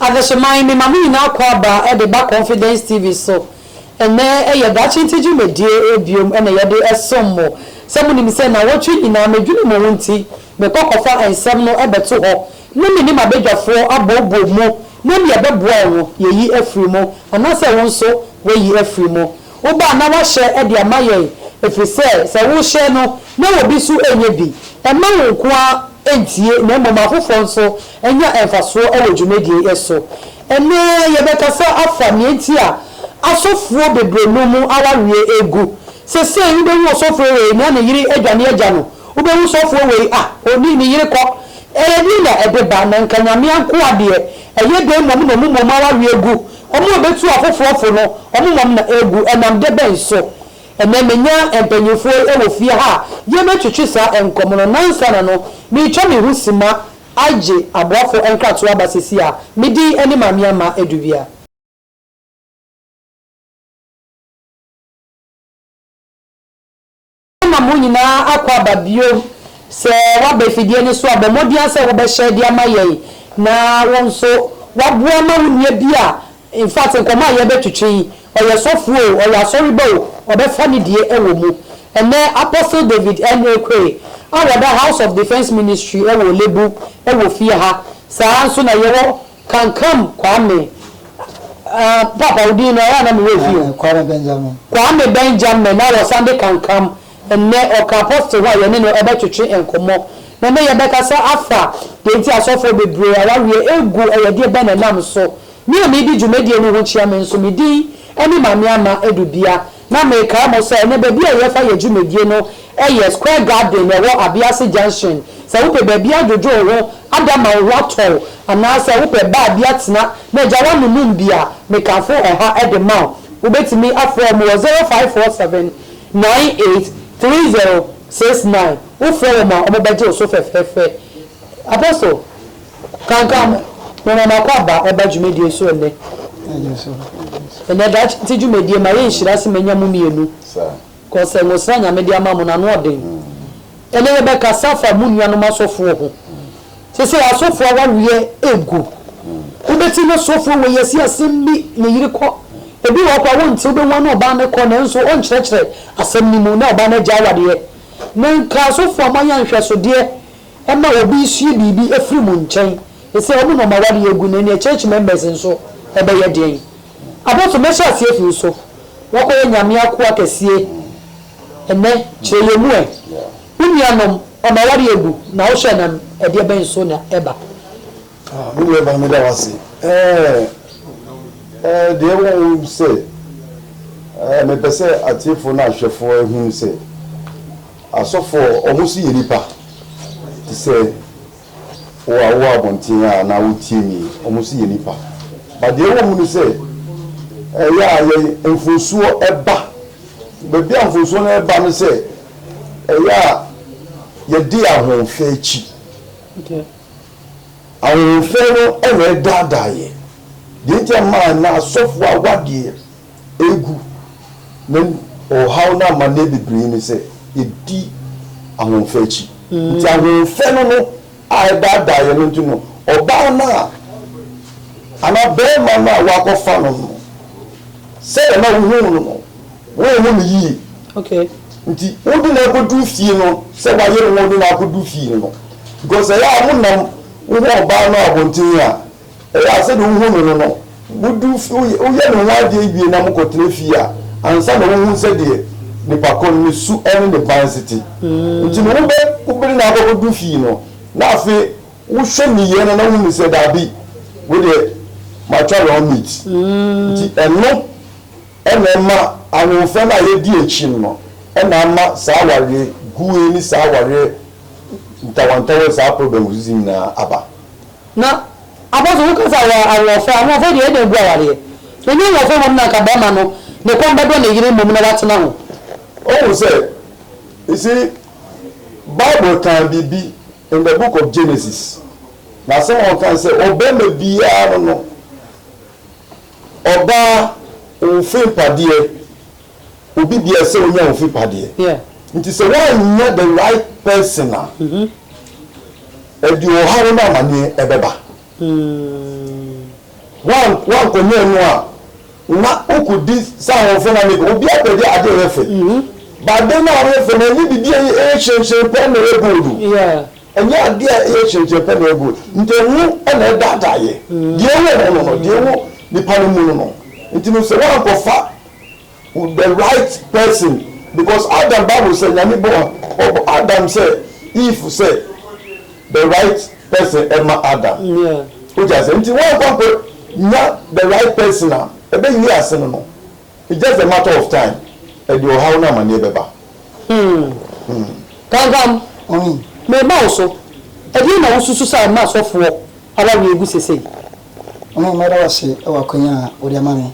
Adesoman me ma mo nyinaa kɔ aba de ba confidence TV so ɛnɛ yɛ daakye nti dwumadie biom na yɛde som mo sɛ mo nim sɛ nawɔtwe nyinaa me dwene mo ho nti me kɔ kɔ fa nsɛm no bɛto hɔ na me ne mabadwafoɔ abɔ bɔ mu na neɛ ɛbɛboa wo no yɛyi afiri mu anaasɛ wo nso wayi afiri mu. Wo ba na wahyɛ de ama yɛn, ɛfiri sɛ, sɛ worehyɛ no na obi nso nyɛ bi, mma wo nko ara ntie na mmom afoforɔ nso nya mfasoɔ wɔ dwumadie yi so. Ɛnnɛ yɛbɛkasa afa nea nti a asɔfoɔ bebree nom awareɛ gu. Sesei wobɛhu ɔsɔfoɔ wei na ne yere adwane agya no, wobɛhu sɔfoɔ wei a ɔne ne yere kɔ. Ɛyɛ deɛn na ɛde ba? Na nka Nyame ankoa deɛ, ɛyɛ dɛn mmom na ɔmo mom awareɛ gu Wɔn a betu afoforɔ fo no, wɔn mam na ɛregu. Ɛnam de bɛn so? Ɛnnɛ menya mpanimfoɔ yi wɔ fie ha a yɛbɛtwetwe saa nkɔmmɔ no. Nnansa na no, meretwa me ho simma agye aboafo nkratoɔ aba seesei a me din ne Maame Amah Adubia. Wonam wo nyinaa akɔ aba bio sɛ woaba afidie no so a, bɔ mmɔden ara sɛ wobɛhyɛ de ama yɛn na wo nso woaboa ma wo nua bi a in fact nkɔmmɔ a yɛrebɛtwetwe yi, ɔyɛ sɔfoɔ o, ɔyɛ asɔreba o, ɔbɛfa ne deɛ wɔ mu. Ɛnnɛ Apostle David N. Oquaye a ɔda House of Defence Ministry wɔ Lebu wɔ fie ha, saa ara nso na yɛwɔ Kankam Kwame, ah, Papa wo din no ɛyɛ a na me werɛ fi o. Kwame Benjamin. Kwame Benjamin na wɔsan de Kankam, ɛnnɛ ɔka Apostle ho a yɛne no ɛbɛtwetwe nkɔmmɔ. Na ɛnnɛ yɛbɛkasa afa deɛ nti asɔfoɔ bebree awareɛ ɛgu, ɛyɛ deɛ bɛn na ɛnam so. Me a meredi dwumadie no ho kyia me nso, me din ɛne Maame Ama Adu Bia. Na mekae mo sɛ ɛnnɛ baabi a yɛfa yɛ dwumadie no yɛ Square Garden ɛwɔ Abease Junction. Sɛ wopɛ baabi adwodwo wo ho, ada ma wo ho atɔ wo, anaasɛ wopɛ baa bi atena na agya w'anonom bi a, mekafo ɛha de ma wo. Wobɛtumi afrɛ wɔn wɔ 0547 98 3069. Wofrɛ wɔn a, wɔbɛgye wo so fɛfɛɛfɛ. Apostle. Kanka no, mema m'akwaaba ba dwumadie so ɛnnɛ. Ɛnɛ daakye nti dwumadie ma yɛ nhyira se manya mo mmienu cause nwosra Nyame de ama mo no ano ɔden. Ɛnɛ yɛbɛkasa afa mo nuanom asɔfoɔ ho. Sesei asɔfoɔ awareɛ ɛgu. Wobɛte na sɔfoɔ wei asi asem bi ne yere kɔ. Ebi wɔ hɔ koraa wonte wobɛhu ɔne ɔbaa no kɔ nanso ɔnkyerɛkyerɛ asem no mu na ɔbaa no agyae awareɛ. Nɛ nka asɔfoɔ a moayɛ anhwɛsodeɛ. Ɛma obi sua biribi firi mo nkyɛn. Seesei wɔn na wɔn awareɛ agu no, ɛnneɛ church members nso bɛyɛ deɛn? Abɔfo, mɛhyɛ aseɛ afi wo so. Woakɔyɛ Nyame akoa kɛseɛ ɛnnɛ, kyerɛ yɛn mu ɛ. Wo nuanom, wɔn awareɛ agu, na wohwɛ no a, ɛdeɛ bɛn so na ɛba? Ah, me nuabaa, meda wo ase. Ɛɛ, ɛɛ, deɛ ɛwɔ ho ne sɛ, ɛɛ, mepɛ sɛ atiefoɔ ne ahwɛfoɔ hunu sɛ, Asɔfoɔ a wɔsi yɛ nipa te sɛ wo a wowɔ abɔnten a na wotie me yi, wɔsi yɛ nipa. But deɛ ɛwɔ mu ne sɛ, ɛyɛ a yɛn mfomsoɔ ba. Baabi a mfomsoɔ no ɛba ne sɛ, ɛyɛ a yɛde yɛn ahoɔfɛ akyi. Ahoɔfɛ no na ɛdaadaa yɛn. Deɛ nti a ɛma ɛnnɛ asɔfoɔ awadeɛ Egu, na ɔhaw ne amanneɛ bebree ne sɛ yedi ahoɔfɛ akyi. Nti ahoɔfɛ no no a ɛdaadaa yɛn no nti no, ɔbaa no a anaa barima no a woakɔfa no no, sɛdeɛ na wohuu no no, wonhu no yie. Nti wode no akɔduru fie no, sɛ wayere wo a wode no akɔduru fie no, because ɛyɛ a monam wohu ɔbaa no abɔnten a, Ɛyɛ a sɛdeɛ wohu no no no, wodu fi, woyɛ, woyɛ ne ho adeɛ wie na mokɔtena fie a, ansa na wohu sɛdeɛ nipa ko no ne su ne ne bansi te. Nti no, wobɛ, wobɛde no akɔkɔdu fie no, na afei wohwɛ nneyɛɛ no na wohunu sɛ, daabi, wei deɛ, matwa wrong meat. Nti ɛno na ɛma ahoɔfɛ no a yɛadi akyi no no na ama saa awareɛ guo yi ne saa awareɛ ntawantawa yi, saa problems yi nyinaa aba. Na abɔso wo kasa wɔ ahoɔfɛ ahoɔfɛ deɛ ɛdɛn bu awareɛ ɛnyɛ ahoɔfɛ mmom na anka barima no ne kɔn bɛdɔ ne yere mmom na watena ho. Wohu sɛ, you see, Bible kaa biribi in the book of Genesis, na asɛm a ɔkae sɛ ɔbarima biara no no ɔbaa mfe mpadeɛ. obi deɛ ɛsɛ onya ofi pa deɛ yeah. nti sɛ woannya the right person a mm -hmm. ɛde ɔhaw no amaneɛ ɛbɛba mm. woankɔnyɛ no a na wokɔdi sɛ ahɔfo na meka obi apɛde ade ɔyɛ fɛ mm -hmm. bade no a ɔyɛ fɛ no ɛnyɛ biribi a ɛyɛ hyerɛnhyerɛn pɛ na ɛyɛ gold o yeah. ɛnyɛ adeɛ a ɛyɛ hyerɛnhyerɛn pɛ na ɛyɛ gold nti ɛho ɛna ɛdaadaeɛ mm. deɛ ɛwɔ ho no no deɛ ɛwɔ nipa no mu no no nti no sɛ woankɔfa with the right person because Adam bible sɛ nyame bɔ ɔbɔ Adam sɛ Eve sɛ the right person ɛma Adam o ti ase nti wɔn kwan kɔ nya the right person a ɛbɛ yi ase no no it's just a matter of time ɛde ɔhaw na amaneɛ bɛba. Hmm. Hmm. Kankam. Hmm. Mema wo so. Ɛdeɛ na wosusu sɛ ɛma asɔfoɔ awareɛ gu sesei? Ɔhene mɛda wo ase wɔ akwanya a wode ama me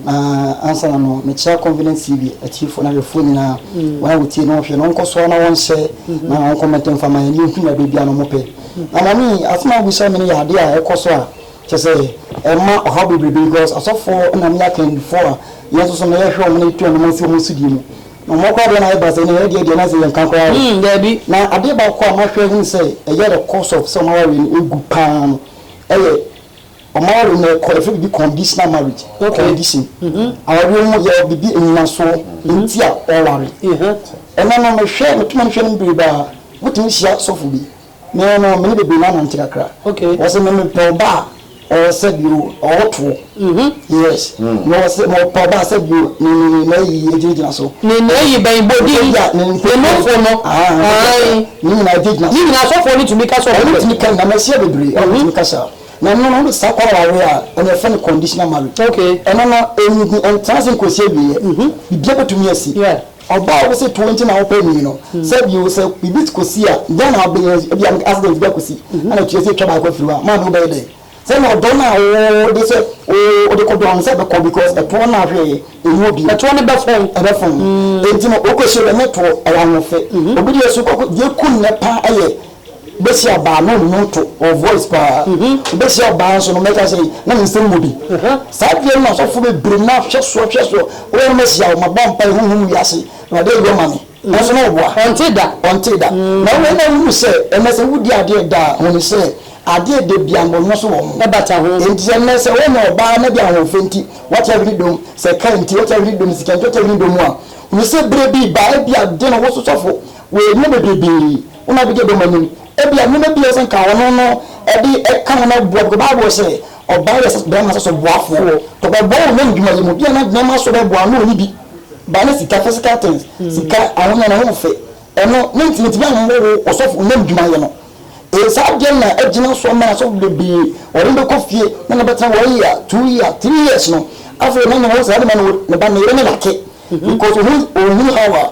na ansa na no mekyea Confidence TV atiefo na hwɛfoɔ nyinaa wɔn a wɔtie na wɔhwɛ no wɔnkɔ so ara na wɔn share na wɔn comment mfa ma yɛn ne yɛnhu nea bɛbia na wɔpɛ na mame yi asɛm a wobisa me no yɛ adeɛ a ɛkɔ so a kyɛ sɛ ɛma ɔhaw bebrebe because asɔfoɔ na me akandifoɔ a yɛn nso so no yɛhwɛ wɔn na yɛtu wɔn anammɔn si wɔn so die mu na wɔn koraa deɛ na ayɛ basa ne ɛdeɛ deɛ na sɛ yɛnka koraa o na adeɛ baako a mahwɛ ahunu sɛ ɛyɛ the cost of sɛ wɔn awareɛ no ɛgu paa no ɛyɛ ɔmo aware no ɛkɔ yɛfrɛ bibi conditional marriage okay condition awareɛ mu yɛ bibi anyinasoɔ nti a ɔware ɛnɛ no mehwɛ meto m'ani hwɛ no berebaa motumi hyia sɔfo bi me no mene bebree no anante kakra okay wɔsɛ me mepɛ ɔba a ɔwɔ sɛ bio ɔwɔ toɔ Mhm. Yes. Na ɔse ma ɔpa ɔbaa sɛ bio ne ne ne nɛɛ yi ɛgyina gyina so. Ne nɛɛ yi bɛn? Bɔ din. Ɛsɛ bia ne nfofo. Ne nofo no. Ahaa. Ae. Ne nyinaa ɛgyina gyina so. Ne nyinaa asɔfoɔ no tumi ka sɛ ɔmo pɛ. Ɔmo tumi ka nyinaa mahyia bebree a ɔmo tumi ka saa. Na ɛno no saa kwan na waware a ɛno yɛfrɛ no conditional marriage. Okay. Ɛno no ɛnni ɛntena ase nkosi awieɛ. Mhm. Biribiara bɛtumi asi. Yeah. Ɔbaa a wose toɔ nti na wopɛ no yi no sɛ bio sɛ biribi kosi a dɛn na wobɛyɛ ebia accident bi akosi ɛna ɛtua sɛ twa baako afiri hɔ a maame wobɛyɛ dɛn? Sɛ na ɔdɔ no a oo de sɛ oo ɔde kɔ dɔn no sɛ ɛbɛkɔ because ɛtoɔ no a hwee ɛnni obi. Ɛtoɔ no bɛfɔn. Ɛbɛfɔn. Ɛnti no ɔkɔ hyɛ dɛm ɛtoɔ ɛyɛ anwɔfe. Obi deɛ so kɔkɔ deɛ ɛku nnɛ paa ɛyɛ bɛhyia ɔbaa na ɔnnwom to ɔ voice paa. Bɛhyia ɔbaa nso no mɛka sɛ na ne nsɛm mu bi. Saa adeɛ no na asɔfoɔ bebree no ahwɛ soɔ hwɛ soɔ. Wɔ nom ahyia wo mabɔ mpaeɛ honhom wiase Awurade ɛyɔ ma me. Nanso na ɔboa. Ɔntee da. Ɔntee da. Na wei na wohu sɛ ɛnnɛ sɛ wodi adeɛ da a, hunu sɛ adeɛ da bi a mmɔnemmɔ so wɔ ho. Ɛbata ho. Enti sɛ nnɛ sɛ woanya ɔbaa na bi a ahoɔfɛ nti wate awini dɔm, sɛ car nti wate awini dɔm, sika nti wate awini dɔm a, hunu sɛ berɛ bi ba a ebia de no wo so sɔfo wɔ nnuro bebrebe wo na wobɛdi dɔm anim. Ebia nneɛma bi a ɛsɛ sɛ anka ɔno no de ka ho na aboa because Bible sɛ, Ɔbaa yɛ sɛ bɛrima sɛso boafoɔ wɔ. Tɔ bɛbɔ wo hɛn dwuma yi mu bia na bɛrima so bɛboa ano ɔnyi bi ba ne sika physical things sika ahonya ne ho fɛ ɛno ne nti ne tumi anwɔ wo ɔsɔfo ɔnyam dwuma yɛ no ee saa adeɛ no na agyina so ama asɔfo bebree wɔde no bɛkɔ fie na na bɛtena one year two year three years no afei na na wɔn saa de ma no ne ba ne yere ne lake because ohun ohun how a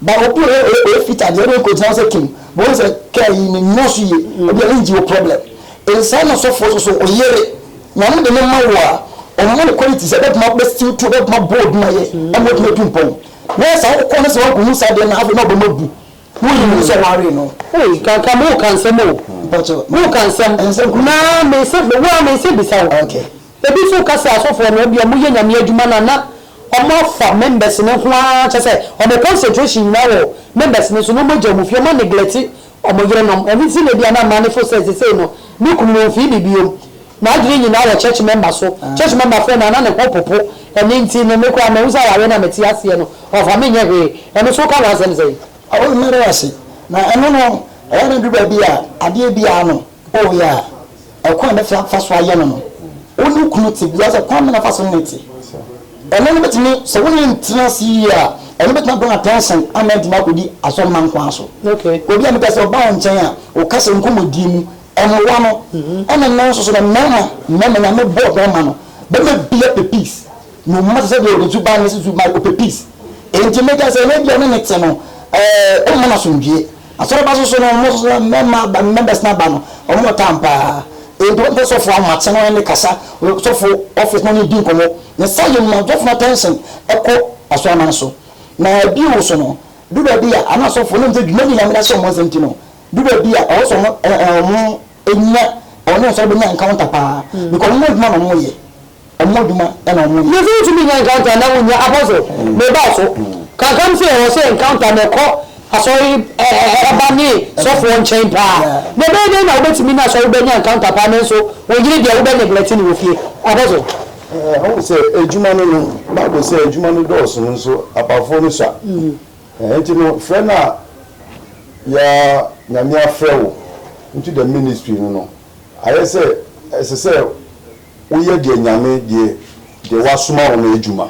Ba obi wɔ hɔ a ɔyɛ fitaa deɛ, wode no kɔgyina hɔ sɛ kim, bɛhu sɛ kaa yi no nnɔɔso yie, ebia ne engine wɔ problem. Nsaa na sɔfoɔ nso so, wo yere, Nyame de no ma wo a, ɔmma no qualities a ɛbɛtumi abɛ steal through, ɛbɛtumi abɔ wo adwuma yɛ ama woatumi atu mpɔn. Na ayɛ saa wokɔ na sɛ woankɔhu saa adeɛ no a, afei na ɔbɛma bu, woyɛ hu sɛ ɔwaree no. Ei Kanka mo ka nsɛm o, mo ka nsɛm, na me se, wo ara me se bisa wo. Okay. Ebi nso ka sɛ asɔfoɔ no ebia wɔyɛ Nyame adwuma no a na wɔafa members no ho ara kyerɛ sɛ wɔn concentration nyinaa wɔ members no so na wɔagya wɔn fie, wɔaneglect wɔn yerenom. Ɛno nti na ebia na mmaa no feel sɛ seesei no me kunu no ɔmfii me biom. N'adwene nyinaa wɔ church member so. Church member frɛ no a na ne ho popo. Ɛno nti no me koraa mahu sɛ awareɛ no a mete aseɛ no ɔmfa me nyɛ hwee. Ɛno nso woka ho asɛm sɛn? Awo, meda wo ase. Na ɛno no, ɛyɛ a na ɛduru baabi a adeɛ biara no. Oh yeah, ɛkwan a mɛtumi afa so ayɛ no no, wo ne wo kunu te biara sɛ kwan bɛn na fa so ne no te? Ɛno no bɛtumi, sɛ wo ne no ntena ase yie a, ɛno bɛtumi abɔ no attention ama atumi akɔdi asɔremma nko ara so. Obi a mepɛ sɛ ɔba wo nkyɛn a, wo kasa, nkɔmmɔdie mu, ɛmmoa no. Ɛna nnɛ nso so no, mmarima, mmarima, Nyame bɔɔ barima no, barima biara pɛ peace. Ne ɔma te sɛ deɛ ɔde suban ne susumaa, ɔpɛ peace. Enti mɛka sɛ, ɛno ebia wo ne no te no, ɛɛ, womma no asomdwoeɛ. Asɔrmba so so no, hɔn so so mma aba, members no aba no, hɔn wɔ tam paa. Ntsi wɔmmpɛ sɔfo ahomakye no nye no kasa, sɔfo office no nye no dzi nkɔmbɔ. Ne saa yɛ ma sɔfo no attention kɔ Asɔrmba no so. Na bio so no, duda bi a, ana sɔfo no nndzi dwuma nnyi Nyame n'asɛm mu nsɛm ntsi no, duda bi a ɔwɔ dɛ ɔmo Ɛnyina ɔne ɔsɔre bɛnya encounter paa because ɔmo adwuma na ɔmo yɛ ɔmo adwuma na ɔmo yɛ. Mese wontumi nya encounter na wonnya Apostle mebaa so kakra mu sɛ ɛwɔ sɛ encounter na ɛkɔ asɔre ba ne sɔfoɔ nkyɛn paa na ɛbɛyɛ dɛn na wobɛtumi ne asɔre ba anya encounter paa nanso wo yere deɛ wobɛ neglect no wɔ fie Apostle. Ɛɛ ɔhu sɛ adwuma no no Bible sɛ adwuma no dɔɔso no nso apafoɔ no sua. Enti no frɛ no a yɛ a Nyame afrɛ wo into the ministry no no, ayɛ sɛ ɛsɛ sɛ wo yɛ deɛ Nyame deɛ deɛ wasoma wo no adwuma.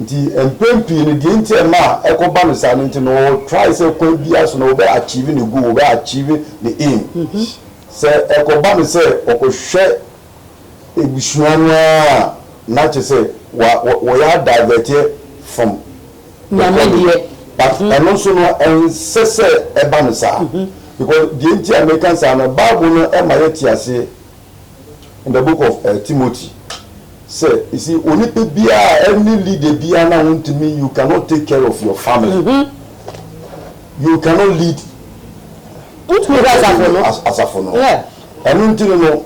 Nti mpɛn pii no deɛ nti a ɛma a ɛkɔ ba no saa no nti no wɔ try sɛ kwan biara so no wo bɛ achieve ne goal, wo bɛ achieve ne aim. Sɛ ɛkɔ ba no sɛ ɔkɔ hwɛ. ebusua no ara a na kyerɛ sɛ wa wɔ wɔyɛ adivɛteɛ from the Nyame calling deɛ. but ɛno nso no ɛnsɛ sɛ ɛba no saa because deɛ nti a meka saa no bible no ma yɛte aseɛ in the book of eh, Timothy sɛ you see onipa biara any leader biara na wontumi you cannot take care of your family you cannot lead Wotumi kɔ asafo no. as- asafo no Yeah. Ɛno nti no no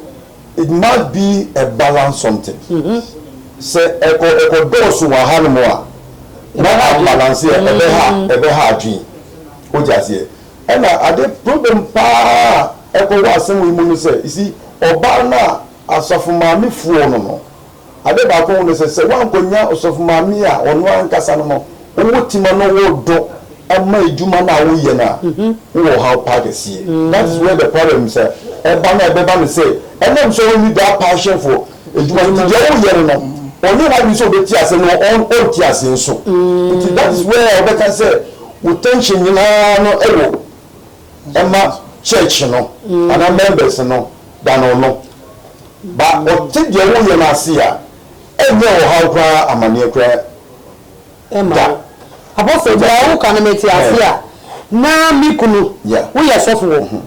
it must be a balance something. Sɛ ɛkɔ ɛkɔ dɔɔso wɔ ha nom a na ambalanse a ɛbɛ ha ɛbɛ ha adwene. Wote aseɛ? Ɛna ade problem paa a ɛkɔ wɔ asɛm wei mu no sɛ you see ɔbaa no a asafo maame foɔ no no Ade baako ho ne sɛ, sɛ woankonnya ɔsɔfo maame a ɔno ankasa no ma wowɔ ti ma no wo dɔ ma adwuma no a woyɛ no a, wowɔ ɔhaw pa kɛseɛ. That is where the problem is a ɛba no a ɛbɛba ne sɛ, ɛnam sɛ wonni that passion for adwuma nti, deɛ woyɛ no no ɔnyɛ n'adwene sɛ ɔbɛti aseɛ na ɔnte aseɛ nso. Nti that is where wobɛka sɛ wo tension nyinaa no wɔ. ma church no anaa members no da no no ba ɔte deɛ woyɛ no ase a ɛnyɛ ɔhaw koraa amaneɛ koraa ɛma da. Apostle deɛ wo ka no me te ase a na me kunu wo yɛ sɔfo wɔ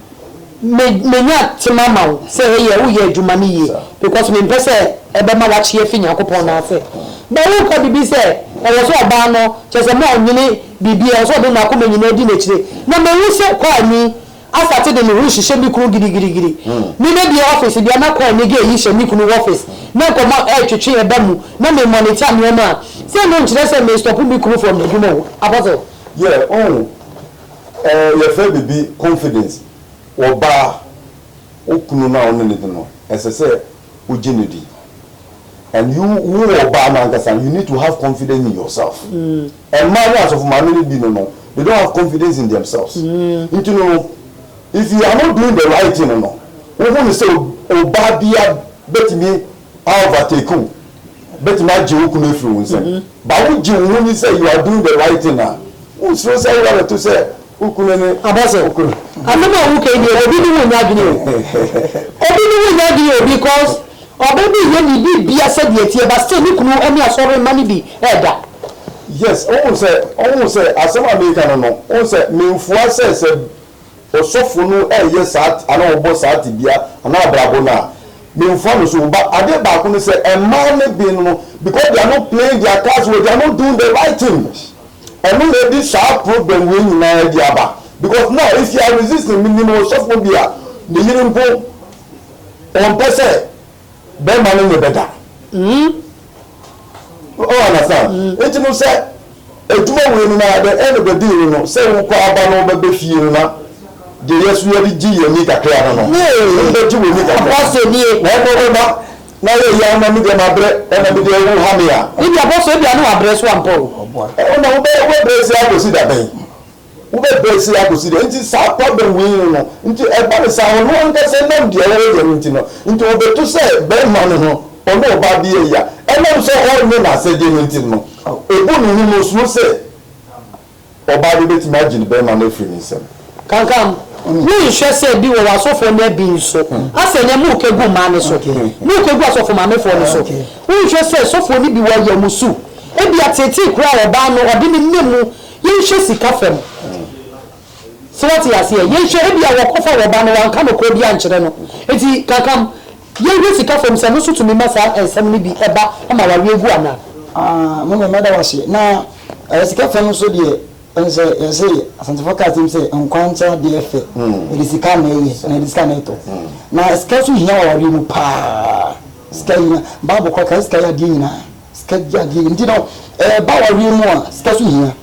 me me nya tema ama wo sɛ eyɛ wo yɛ adwuma no yie because me mpɛ sɛ ɛbɛ ma wakye afi Nyankopɔn nan ase but wo ka bibi sɛ ɛwɔ sɛ ɔbaa no kyɛsɛ mo a ɔnyene biribiara, ɔsɛ ɔde n'akoma nyinaa di n'akyire, na mahu sɛ Kwani asate de ne ho rehyehyɛ me kunu girigirigiri. Me na bie ɔfese bia na Kwani ge yi hyɛ me kunu wɔfese, na nkɔmmɔ retwetwe ɛba mu, na me mɔnita nnoɔma a, sɛ no nkyerɛ sɛ me stɔpo me kunu from n'adwuma o, Apostle. Yeah, wohu eh, yɛfrɛ biribi confidence, ɔbaa, wo kunu no a wo ne no di no, ɛsɛ sɛ wo gye no di, and you, wo ɔbaa no ankasa, you need to have confidence in yourself. Mmaa ne asɔfo maame no bi no no they don't have confidence in themselves nti no no if you are not doing the right thing no no wohu no sɛ obaa bia bɛtumi a overtake wo bɛtumi agye wo kunu afiri wo nsam but wogye wo ho ni sɛ you are doing the right thing a wonsuro sɛ wo yare to sɛ Abɔso, asɛm a wo ka yi deɛ obi ne wo nyɛ adwene o, obi ne wo nyɛ adwene o because ɔbaa bi nyɛ ne biribia sɛdeɛ ɛteɛ but still ne kunu ne asɔre mma no bi ɛɛda. Yes, wohu sɛ, wohu sɛ asɛm a meeka no no, wohu sɛ menfua sɛ sɛ ɔsɔfo no ɛɛyɛ saa anaa ɔɔbɔ saa tebea anaa abrabɔ no a, menfua no so o but adeɛ baako ne sɛ mmaa no bi no no because they are not playing their cards well, they are not doing the right thing. Ɔno na ɛde saa problem wei nyinaa ɛde aba because now if you are resisting me nim ɔsɔfoɔ bi a ne yere mpo ɔmpɛ sɛ bɛrima no ne bɛ da o understand nti no sɛ adwuma wei no na the end of the day no no sɛ wo kɔ aba no bɛ bɛ fie no na deɛ yɛ so yɛ de gye yɛ ni kakra no no wo bɛ gye wɔ ni kakra na ɛbɔ bɛ ma Na yɛ yaw na me deɛ ma brɛ ɛna me deɛ wo ha me a. Me deɛ bɔ so ebia ne wa brɛ so ampa o. Ɛno na wo bɛ wo bɛ brɛ se akosi da bɛn wo bɛ brɛ se akosi da nti saa kwa bɛn wei no no nti ɛba ne saa ɔno ankasa ɛnam deɛ ɔyɛ yɛ no nti no nti ɔbɛ to sɛ bɛɛma no ho ɔne ɔbaa bi yɛ ya ɛnam sɛ ɔnyɛ na asɛdeɛ no nti no ɔbu ne ho no ɔsuro sɛ. Ɔbaa no betumi agye ne barima no afiri ne nsam. Kankam, wonhwɛ sɛ bi wɔ w'asɔfoɔ no abi nso, asɛ nɛ moka gu mmaa no so, moka gu asɔfo maamefoɔ no so. Wonhwɛ sɛ sɔfoɔ no bi wɔ yɛ mo su, ebia teetee koraa ɔbaa no ɔde ne nɛ mu, yɛnhwɛ sika fam. Sɛ woate aseɛ, yɛnhwɛ ebia wɔkɔfa w'ɔba no wanka nokorɛ biara ankyerɛ no. Enti Kankam. Yɛnhwɛ sika fam sɛ ɛno nso tumi ma saa nsɛm no bi ba ma awareɛ gu anaa. Aah mummy mɛda wo ase. Na ɛɛ sika fam nso deɛ wonim sɛ yɛse Asantefoɔ ka asɛm sɛ nkwa nkyɛ adeɛ fɛ yɛde sika na ɛyɛ anaa yɛde sika na ɛtɔ na sika nso hia wɔ awareɛ mu paa sika hia bible koraa ka sɛ sika yɛ adeɛ nyinaa. Sika di adeɛ nti no ɛba awareɛ mu a sika so hia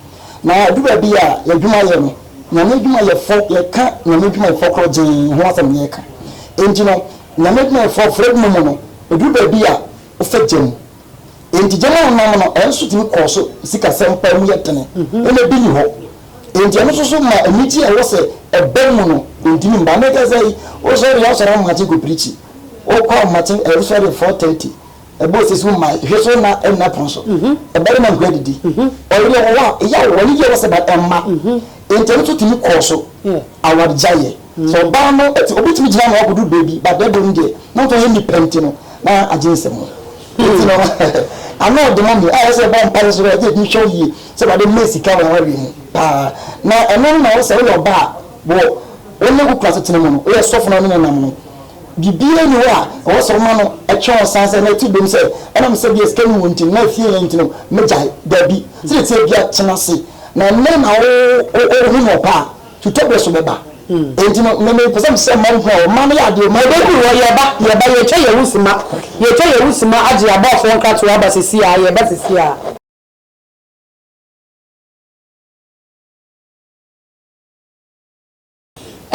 na ɛduru baabi a yɛadwuma yɛ no Nyame adwuma yɛ fɔ yɛka Nyame adwuma yɛ fɔ korɔ gyee ho asɛm na yɛka nti no Nyame adwuma yɛ fɔ frɛ adwuma mu no ɛduru baabi a wofɛ gya mu nti gya mu a wonam no ɛnso tumi kɔɔ so sika sɛm paa mu yɛ dene ɛna bi ni hɔ nti ɛno nso so ma anigye a ɛwɔ sɛ ɛba mu no ɛntumi mba mekɛ sɛ wosɔre a wosɔre amakye kɔ pirikyi wokɔ amakye ɛwosɔre 4:30 Ɛbɔ sisi ho mmae, hwɛ so na ɛnna pon so. Ɛbarima nkoa didi. Ɔyere wɔ hɔ a, ɛyɛ a wɔne yɛ wɔ sɛ but ɛmma. Ntɛm nso tumi kɔɔ so. Awargyaeɛ. Sɛ ɔbaa no te, obi tumi gyina ano akɔduru baabi but da biom deɛ, na wo nso ɔyɛ nnipa nti no, na agye nsam. Nti no, ano ɔde ma me a ɛsɛ sɛ yɛbɔ mpaeɛ nso sɛ yɛde hwɛ wo yie sɛ Awurade mmɛn sika wɔ awareɛ mu paa. Na ɛno na wo sɛ woyɛ ɔbaa a, wɔ wo ne wo kunu asetena mu no, woyɛ sɔfo na wo ne no nam no, Biribiara nni hɔ a ɛwɔ sɛ woma no twe wo san sɛ na ti dom sɛ ɛnam sɛ ebia sika nni hɔ nti anaa efie yɛ nti no megyae. Dabi, sɛnea ɛteɛ biara tena ase na ɛnnɛ na wohu no ɔpɛ a, twitwaberɛ nso bɛba. Enti no, me mepɛ sɛ mesrɛ mma nhu a ɔma no yɛ adeɛ ɔma Dabi wɔ yɛba yɛba yɛtwa yɛwo sima yɛtwa yɛwo sima agye abɔɔfoɔ nkratoɔ aba sisi aa yɛba sisi aa.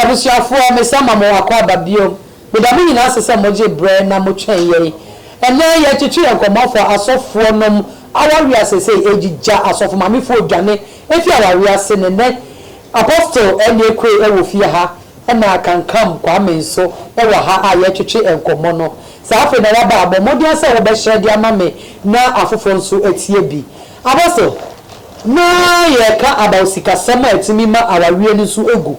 Abusuafoɔ, mese ama mo akwaaba bio. Meda mo nyinaa ase sɛ mogye berɛ na motwɛn yɛn. Ɛnnɛ yɛretwetwe yɛn nkɔmmɔ afa asɔfoɔ nom awareɛ a seesei ɛregyigya, asɔfo mamefoɔ redwane afiri awareɛ ase, ne nnɛ Apostle Ernie Akue wɔ fie ha, ɛna Kankam Kwame nso wɔ ha a yɛretwetwe nkɔmmɔ no. Saa afei na waba a, bɔ mmɔden ara sɛ wobɛhyɛ de ama me na afoforɔ nso atie bi. Apostle. Na yɛka about sikasɛm a ɛtumi ma awareɛ no nso gu.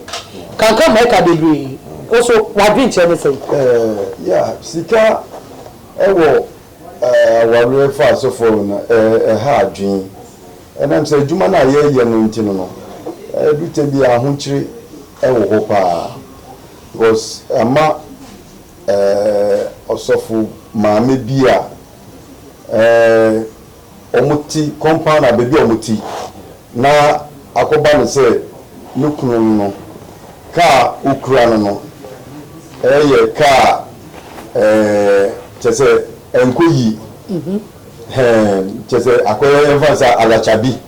Kanka ma ɛka bebree. Wo so w'adwenkyerɛ ne sɛn? Eh, yeah, sika wɔ eh, awareɛ mfaasofoɔ ho no, eh, ɛha adwene. Ɛnam sɛ adwuma no a yɛyɛ no nti no no, ɛdu tɛ bi a ahokyere wɔ hɔ paa. Because ɛma eh, ɔsɔfo maame bi a eh, wɔn ti compound a baabi a wɔn ti na akɔba no sɛ ne kunu no no car a ɔkura no no yɛ car a kyerɛ sɛ ɛnkɔ yie kyerɛ sɛ akɔyɛ yɛmfa no sɛ alakyabi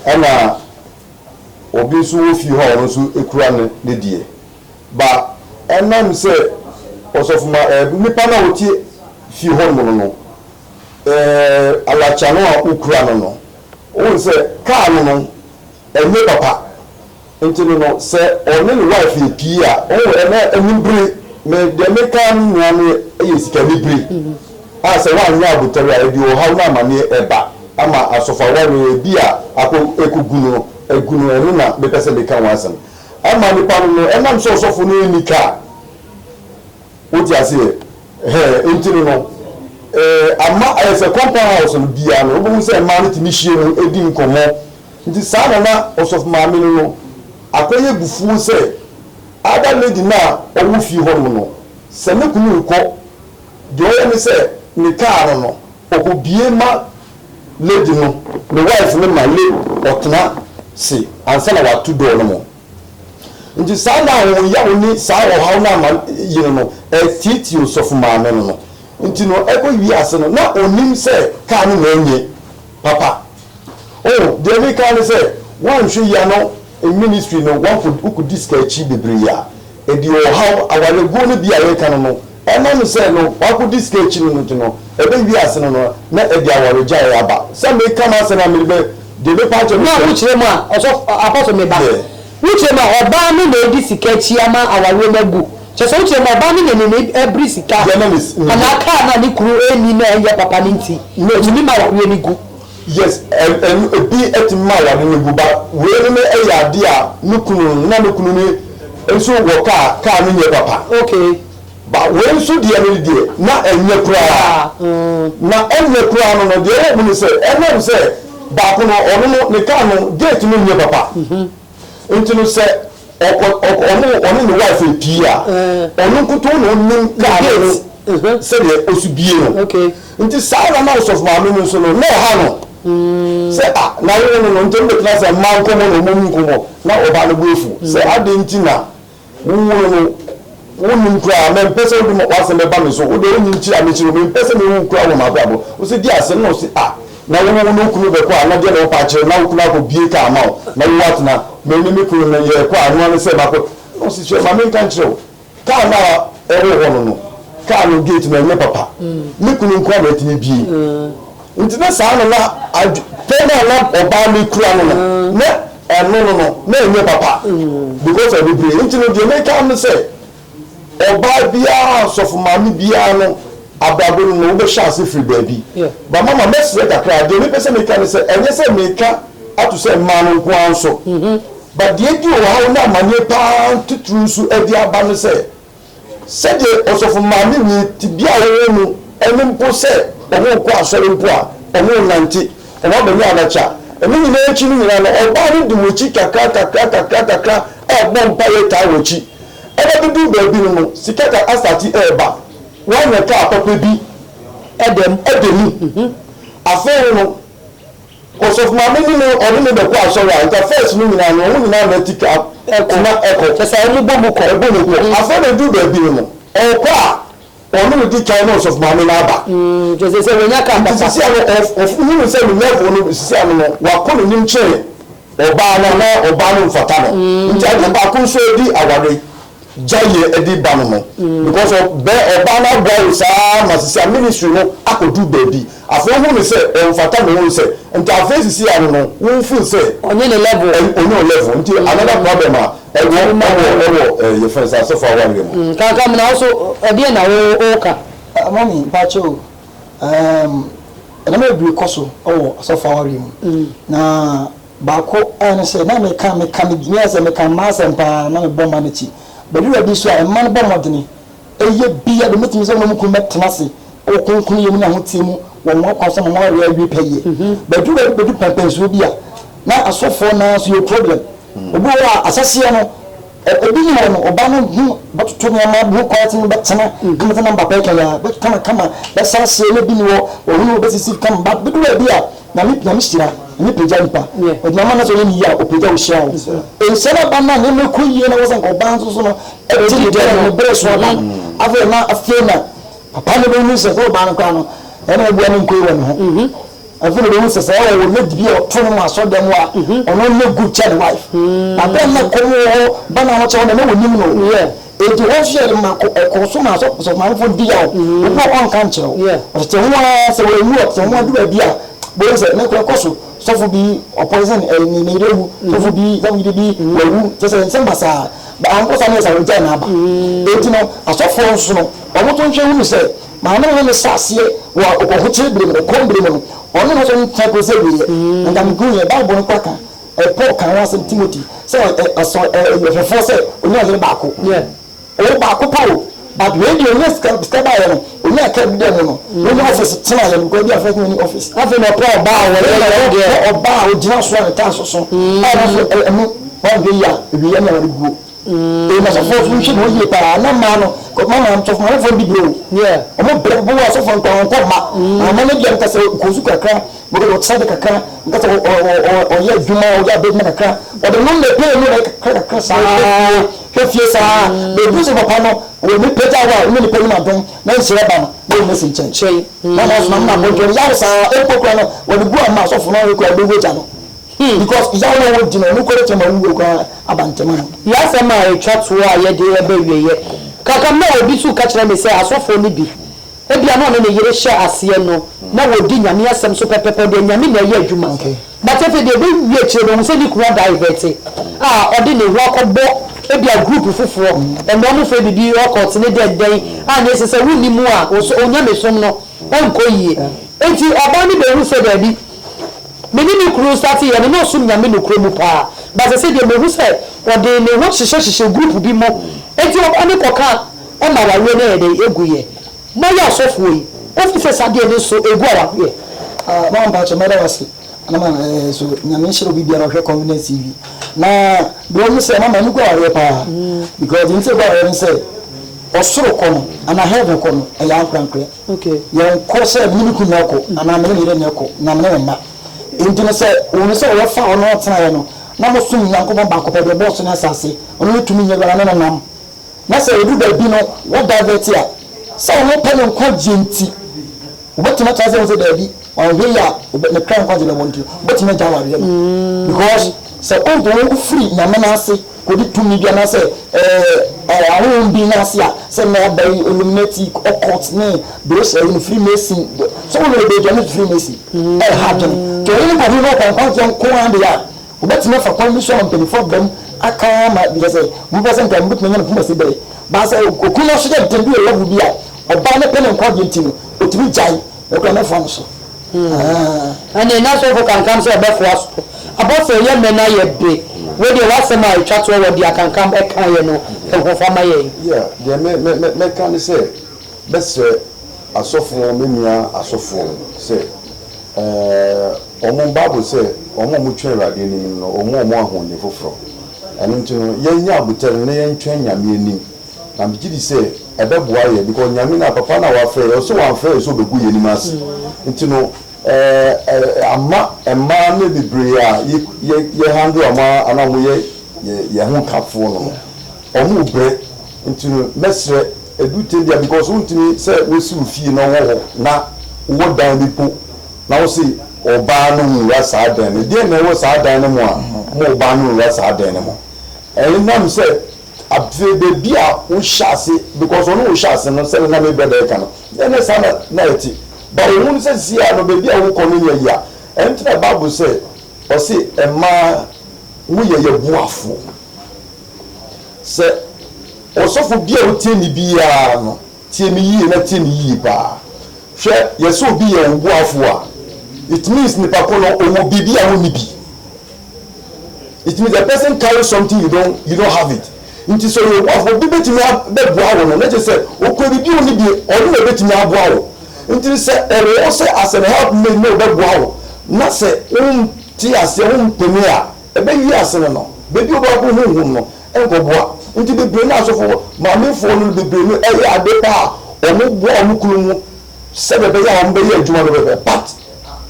ɛna obi nso wɔ fie hɔ a ɔno nso kura ne ne deɛ ba ɛnam sɛ ɔsɔfoma nipa no a ɔte fie hɔ nom no no Ɛɛ alacha no a wokura no no wohu sɛ car no no ɛnyɛ papa nti no no sɛ ɔne ne wife yɛ pii a wohu ɛnɛ anibere me deɛ meka ara no nyinaa no yɛ sika anibere a sɛ woanyɛ abotare a ɛde ɔhaw ne amaneɛ ɛba ama asɔfo awareɛ ebi a akɔ ɛkɔgu no agu no ɛno na mepɛ sɛ meka ho asɛm ama nipa no no ɛnam sɛ ɔsɔfo no nni car Wote aseɛ? Ɛhɛɛ, enti no no, ɛɛ, ama ayɛ sɛ compound house no biara no, wobɛhu sɛ mmaa no tumi hyia mu di nkɔmmɔ. Nti saa na na ɔsɔfo maame no no akɔyɛ abufuo sɛ other lady no a ɔwɔ fie hɔnom no, sɛ ne kunu rekɔ, deɛ ɔyɛ ne sɛ ne car no no, ɔkɔbie ma lady no, ne wife no ma lady ɔtena se ansa na wato door no mu. Enti saa nna a ahoyaw ne saa ɔhaw no ama yere no atiatia ɔsɔfo maame no no nti no, ɛkɔwiee ase no, na onnim sɛ kar no na enye papa. Oh, deɛ mereka ara ne sɛ, woanhwɛ yie a no ministry no, wokɔdi sika akyi bebree a, ɛde ɔhaw, awareguo no bi a yɛreka no no, Ɛnam sɛ no wakodi sika akyi no nti no, ɛbɛ wie ase no no na ɛde awaregyaeɛ aba. Sɛ me ka m'asɛm a mede bɛ deɛ mɛpa akyɛ no sɛ. Na wo kyerɛ mu a ɔsɔfo, Apostle me ba, wo kyerɛ mu a ɔbaa no na adi sika akyi ama awareɛ no agu, kyerɛ sɛ wo kyerɛ mu a ɔbaa no na nini ɛbere sika anaa car no a ne kunu ɛnni na ɛnyɛ papa no nti ɛtumi ma awareɛ no gu. Yes, ɛno ebi tumi ma aware no gu, but wei no ne ɛyɛ adeɛ a ne kunu no na ne kunu no nso wɔ kaa, kaa no nyɛ papa. Okay. But wei nso deɛ no deɛ na ɛnyɛ koraa, na ɛnyɛ koraa no no deɛ ɛwɔ mu ne sɛ ɛnam sɛ baako no ɔno no ne kaa no gate no nyɛ papa. Nti no sɛ ɔkɔ ɔkɔ ɔmo ɔne ne wife epie a, ɔno nkutoo na onim kaa no ho sɛdeɛ osi bie no. Nti saa ara na ɔsɔfo maame no nso no, na ɛha no sɛ ah n'ayere no no ntɛm betena ase a mma nkɔmɔ na ɔmɔ nni nkɔmɔ, na ɔbaa no bo afu sɛ adeɛ nti na Wo nwunu no, wonnim koraa. Mempɛ sɛ wode w'asɛm bɛba me so. Wo deɛ, wonnim kyi a mekyi no. Mempɛ sɛ mewu koraa wɔ m'abrabɔ. Ɔse, Di asɛm na ɔse, Ah, na wo wo ne wo kunu bɛkɔ a, na deɛ na wo paa kyerɛ, na wo kunu akɔ bie kaa ama wo, na wo atena. Me ne me kunu no, yɛɛkɔ a, noa ne sɛ makɔ. Na ɔse, Hwɛ, ma menka nkyerɛ wo, kaa no a ɛwɔ hɔ no no, kaa no gate no ɛnyɛ papa. Me kunu nko ara na atumi bie. Nti na saa no na adwe, pɛ no a na ɔbaa no kura no no, na ɛno no no, na ɛnyɛ papa, because of bebree. Nti no, deɛ meka ne sɛ, ɔbaa biara, sɔfo maame biara no, abrabɔ no no, wobɛhyɛ ase firi baabi. But mama, mɛsrɛ kakra, deɛ mepɛ sɛ meka ne sɛ, ɛnyɛ sɛ meka ato sɛ mmaa no nko ara nso, but deɛ adi ɔhaw ne amaneɛ pa ara titiriw nso de aba ne sɛ, Sɛdeɛ ɔsɔfo maamenyi tebea a wɔwɔ mu ne mpo sɛ wɔrekɔ asɔre mpo a, wɔrenante, wɔabɛyɛ anakye a. Ɛno nyinaa akyi no nyinaa no, ɔbaa no di wɔn akyi kakra kakra kakra kakra a ɔbɔ mpaeɛ taa wɔn akyi. Ɛna bɛduru baabi no no, sika ka asate reba, wanya kaa papa bi da mu. Afei no. Ɔsɔfo maame ne me ɔne me bɛkɔ asɔre a nka first no nyinaa no ɔmo nyinaa na ti ka tina ɛkɔ. Kyerɛ sɛ ɔmo bɔ mu kɔ. Ɛbɔ mu kɔ. Afei na eduru baabi no no ɔkɔ a ɔno na odi kan na ɔsɔfo maame no aba. Nti ɛsɛ sɛ wanya car papa. Nti sesia no ɔhunu sɛ ne level no sesia no no wakɔ n'anim kyɛn ɔbaa no anaa ɔbaa no mfata no. Nti adeɛ baako nso ɛdi aware. gya yɛ ɛdi ba no no because of bɛ ɔbaa no aboa wo saa ma sisi a ministry no akɔ duru baabi afei wohu no sɛ ɔnfata me wohu sɛ nti afei sisi a no no wo feel sɛ ɔnyɛ ne level ɛn ɔnyɛ wo level nti another problem a ɛwɔ ɛwɔ ɛwɔ ɛɛ yɛ fɛn sɛ asɔfo awareɛ mu. Mm kaka mu na wo so ɛdeɛn na wo wo ka. Ah mummy mpakyɛ o ɛɛm ɛnɛma bebree kɔ so ɛwɔ asɔfo awareɛ mu na. Baako ara ne sɛ, na meka, meka, megyina sɛ meka mmaa asɛm pa ara, na mebɔ mmaa no akyi. Bɛduru baabi nso a, mmaa no bɔ mmɔdene yɛ bi a, wɔbɛtumi sɛ wɔne wɔn kunu bɛtena ase wɔ kronkronyɛ mu ne ahoteɛ mu wɔ wɔn akwan so ama wɔawareɛ awie pɛyɛ. Bɛduru baabi bɛdu pɛmpɛnsoɔ bi a, na asɔfoɔ no ara nso yɛwɔ problem. Obi wɔ hɔ a, ahyɛhyeɛ no, Ebi yɛ wɔn ɔba no ho bɛtoto nneɛma bi ho kwan tene bɛtena ama tena mba pɛɛ kɛyɛ a bɛ kama kama bɛ sa seɛ ne bi ni hɔ wɔ hunu wɔ bɛ sisi kama ba bɛ duru baabi a nyame nyame hyira nyame pagya nipa ɔde ama na sɛ ɔyɛ ne yie a ɔpagya wo hyira wo nhyɛ na ba na nneɛma ɛkɔ yie na wɔ sɛ nka ɔbaa nso so no ɛte ne dɛ ne bere so aba no afei na afei na papa no bɛ hu sɛ sɛ ɔbaa no koraa no ɛna ɔbua ne nkɔ yi wɔ ne ho. Afei na mehu sɛ sɛ ɔwɔ lady bi a ɔto no ma asɔrdan mu a, ɔno nyɛ good kyɛn ne wife. Na bere a na ɛkɔm wɔ hɔ, ba no ahokyere hɔ na na wɔnim no. Enti hɔ nso yɛ de ma kɔ, ɛkɔɔ so ma asɔ, asɔfo maamefo no di yaw. Obi wɔ hɔ a ɔnka nkyerɛ wo. Ɔtete ho ara, sɛ wanwu a, ɔtete ho adu baabi a, bohu sɛ ne kora kɔ so. Sɔfo bi ɔpoison ɛɛ ne ne yere awu, sɔfo bi, sɔfo yere bi wawu, kyerɛ sɛ nsɛm basaa. Ba anko saa na ɛyɛ saa, ogyae n'aba. Enti no, asɔfoɔ nso no, wɔn nso nhwɛ hunu sɛ, Maa no ho no hyɛ aseɛ wɔ ɔkɔhokyere berɛ mu, ɛkɔm berɛ mu no, ɔno no mfa kɔsi awieɛ. Nka mehunuiɛ, Bible no koraa ka, Paul kaa ho asɛm, Timothy, sɛ ɔsɔ Yɛhofoɔ sɛ ɔnya yere baako. Ɔwɔ baako pɛ o, but wei deɛ ɔnya sika, sika baeɛ no, ɔnyaa car bi da mu no, ɔnya office tenaeɛ no, because bi a first na ɔni office. Afei na ɔpɛ ɔbaa a wɔyɛ yɛ deɛ. Ɔpɛ ɔbaa a ɔgyina so a ne taa soso, a nso ɛno, woanhwɛ yie a, awieɛ ne aware guo. Ee, na asɔfoɔ nso nhwɛ ne ho yie paa, na mmaa no, mmaa no asɔfoɔ no wɔmfa mdi berɛ o. Wɔn berɛ bo wɔ asɔfoɔ no paa, wɔntɔ mma. Na mma no deɛ no kasɛ ɔkɔ sukuu kakra, wɔkɔ ɔkyerɛ de kakra, nkasɛ ɔyɛ adwuma, ɔyɛ adeɛ adwuma kakra, wɔde nom ne pay mu na kakra kakra saa hwɛ fie saa. Bɛduru sɛ papa no wɔ ne pɛ gya hɔ a, ɔne nipa nim adom na nhyira ba no, na ɔmma si nkyɛn. Na mmaa nso, na mmaa abɔdwene yare saa, mpo kora no wɔde gu a mmaa asɔfoɔ no ayɛ kora bɛwu agya no. Because Yaw na wodi no, nokware kyɛ ma wuwɔ koraa abantɛm ano. Yi asɛm a etwa toɔ a yɛde reba awieeɛ. Kaka mmerɛ a obi su ka kyerɛ me sɛ asɔfoɔ no bi, ebia na ɔne ne yere hyɛ aseɛ no, na wɔdi Nyame asɛm so pɛpɛpɛ, ɔde anyame na ɛyɛ adwuma. But afei deɛ bɛwie akyire no, ɔhu sɛ ne kunu a divert a ɔde ne ho akɔbɔ ebia group foforɔ, ɛnna wɔfrɛ biribi occult ne dɛndɛn, a nea ɛsɛ sɛ wonni mu a, wo so, wo nyamesom no nkɔ yie. Enti ɔbaa no bɛhu sɛ daabi. me ne me kunu starte yɛ no na ɔsom Nyame nokorɛ mu paa but sɛsɛ deɛ mahu sɛ ɔde ne ho hyehyɛ hyehyɛ group bi mu nti ɔkɔ ne kɔka ɔma awareɛ no ayɛ dɛn ɛgu yɛ moayɛ asɔfoɔ yi wofi sɛ saa deɛ no nso ɛgu awareɛ Ah mama mpakyɛ mɛda wase na ma eh, so nyame nhyira obi biara ɔhwɛ confidence tv na deɛ ɔmu sɛ mama ɛno gu awareɛ paa because deɛ nti ɛgu awareɛ no sɛ ɔsoro kɔ no ana heaven kɔ no ɛyɛ ankorankorɛ Yɛnkɔ sɛ me ne me kunu na ɛkɔ, anaa me ne me yere na ɛkɔ, anaa me ne me mma. Enti no sɛ wohunu sɛ wɔbɛfa ɔno atenaeɛ no, na mosom Onyankopɔn baako pɛ, deɛ ɔbɔɔ soro ne asase, ɔno ne tumi nyɛdua no, ne no nam, na sɛ ɛduru baabi no wɔ divert a, sɛ ɔno pɛ ne nkwagyeɛ nti, wobɛtumi akyerɛ sɛ hu sɛ daabi, ɔnhwɛ yie a ne kra nkwagyeɛ bɛwɔ nti, wobɛtumi agya awadeɛ no, because sɛ wontumi wofiri Nyame no ase. Kodi tumi bi anaasɛ ɛɛ ahonhom bi no ase a, sɛ nnɛ aba yi Illuminati, occult ne bere hyɛ yi no Freemason de, sɛ wo werɛ beedwane fi Freemason ɛha adwene. Nti ɔhene no kɔhwehwɛ ɔkwankwanfoɔ nko ara deɛ a, wɔbɛtumi afa kwan bi so ama mpaninfoɔ aba mu aka ama bi kyerɛ sɛ wɔbɛpɛ sɛ nka wɔbɛtumi anya no poma si bere. Baa sɛ okunu no ahyɛ dɛ ntɛm bi wɔ level bi a, ɔbaa no pɛ ne nkwa deɛ nti no, ɔtumi gyae. Nokora mɛfoa mo so. Ɛnneɛ na sɔfo kankam sɛ ɔbɛfoa so. Apostle yɛ mɛ na yɛ be. Wei deɛ w'asɛm a ɛtwa toɔ wɔ deɛ kankam ɛkaeɛ no ho fa ma yɛn. Yeah, deɛ mɛ, mɛ, mɛ, mɛka ne sɛ, bɛsrɛ asɔfoɔ, me nua asɔfoɔ no sɛ, ɛɛ, wɔn, Bible sɛ, wɔn a wɔtwɛn Awurade anim no, wɔn wɔ wɔn ahoɔden foforɔ. Ɛno nti no, yɛnyɛ abotare na yɛntwɛn Nyame anim. na me gye di sɛ ɛbɛboa yɛn because Nyame no a papa no a wafrɛ yɛn ɔsɛ wamfrɛ yɛn sɛ ɔbɛgu yɛn anim ase nti no ɛɛ ama mmaa no bebree a yɛ yɛ yɛ handle wɔn a anaa wɔn yɛ yɛ yɛn ho kafoɔ no no wɔn rebrɛ nti no mɛsrɛ edu tɛm bia because wontumi sɛ wosi wo fie na ɔwɔ hɔ na wowɔ dan bi po na wose ɔbaa no nwura saa dan no deɛ na ɛwɔ saa dan no mu a mo ɔbaa no nwura saa dan no mu ɛnam sɛ Afei baabi a wohyɛ ase because ɔne wohyɛ ase no sɛdeɛ na me brɔda ɛka no ɛnyɛ saa na na ɛte but wohu no sɛ seesei ara no baabi a wokɔ no nyɛ yea ɛno nti na bible sɛ ɔse mmaa moyɛ yɛ boafoɔ sɛ ɔsɔfo bi a wotie ne biara no Tie me yie na tie me yie paa. Hwɛ, yɛ sɛ obi yɛ wo boafoɔ a, it means nipa ko no ɔwɔ biribi a wonni bi. It means the person carry something you don't, you don't have it. Nti sɛ ɔyɛ wo boafoɔ, obi bɛtumi abɛboa wo no, na kyerɛ sɛ ɔkura biribi a ɔnni bi, ɔno na ɛbɛtumi aboa wo. Nti sɛ ɛwɔ hɔ sɛ as an helpmate na ɔbɛboa wo, na sɛ wonte aseɛ, wompene a, ɛbɛwie asene no. Baabi a wobɛkɔ honhom no, nkɔboa. Nti bebree no asɔfo maamefoɔ no bebree no ɛyɛ ade pa a wɔboa wɔn kunu mu sɛdeɛ ɛbɛyɛ a wɔbɛyɛ adwuma no pɛpɛ but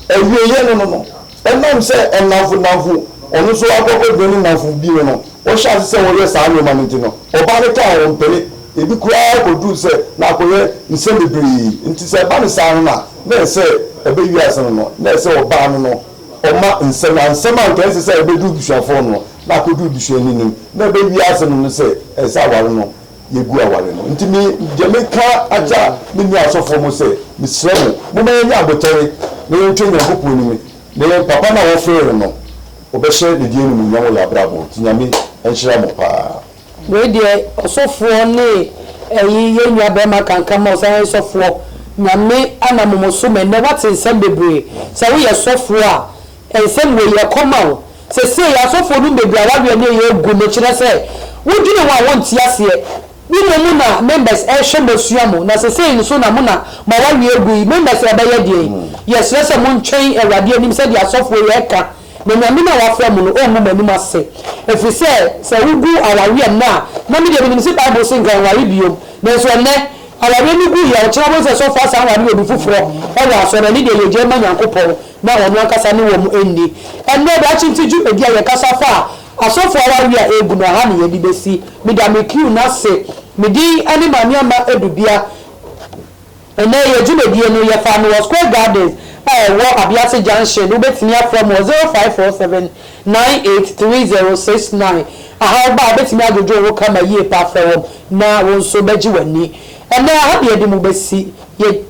awieɛ no no no ɛnam sɛ nnamfo nnamfo ɔno nso akɔ akɔgyina ne nnamfo bi no no wɔhyɛ ase sɛ wɔyɛ saa nneɛma no nti no ɔbaa no kaa wɔn mpene ebi koraa kɔduru sɛ na akɔyɛ nsɛm bebree nti sɛ ɛba no saa no na na ɛsɛ ɛbɛ wiase no no na ɛsɛ ɔbaa no no Ɔma nsɛm a nsɛm a anka ɛnsɛ sɛ ɛbɛduru busuafoɔ no na akɔduru busuani no na ɛbɛ wiase no no sɛ ɛsɛ sɛ aware no yɛgu aware no nti me deɛ meka akya me nua asɔfoɔ mo sɛ mesrɛ mo moma yɛnyɛ abotare na yɛntwa Nyankopɔn anim na yɛn papa no a wɔfrɛɛ yɛn no ɔbɛhyɛ ne din animuonyam wɔ yɛn abrabɔ nti Nyame nhyira mo paa. Wei deɛ ɔsɔfoɔ ne ɛyi yɛn nua barima kanka ma ɔsan yɛ sɔfoɔ Nyame anamom so ma ɛnnɛ wate nsɛm bebree sɛ woyɛ sɔfoɔ a nsɛm wei yɛ kɔ ma wo sesei asɔfoɔ nom bebree a wareɛ ne ɛyɛ agu no kyerɛ sɛ wo dwene ho a wo nte aseɛ wo mom na members ɛhwɛ mo asua mo na sesei nso na mo na ma wareɛ agu yi members ɛbɛyɛ deɛn yɛsrɛ sɛ mo ntwɛn awurade anim sɛdeɛ asɔfoɔ yi ɛka Na Nyame no a wɔafrɛ mo no ɔmmu mo anim ase, ɛfiri sɛ, sɛ wogu awareɛ nnɛ a, na me deɛ menim se Bible se nkannware bio, nanso ɛnnɛ, awareɛ no gu yaw, kyena wobɛhu sɛ sɔfo asan aware obi foforɔ wɔ asɔre, ɛno deɛ yɛ gyae ma Nyankopɔn na ɔno ankasa ne wɔn nni. Ɛnnɛ, daakye nti dwumadi a yɛkasa fa asɔfo awareɛ a ɛregu no, ɛha ne yɛde bɛsi. Meda me crew no ase, me din ne Maame Ama Adubia. Ɛnnɛ, yɛn dwumadie no, yɛfaa no wɔ Square Gardens a ɛwɔ Abiase Junction, wobɛtumi afrɛ me wɔ 0547983069. Aha wo ba a, wobɛtumi adwodwo wo ho kama yie paa frɛ wɔn na wo nso bɛgye w'ani. Ɛnnɛ, aha na yɛde mo bɛsi, yɛ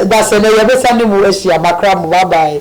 da sɛ nnɛ yɛbɛsan ne mo ahyia, makra mo, bye bye.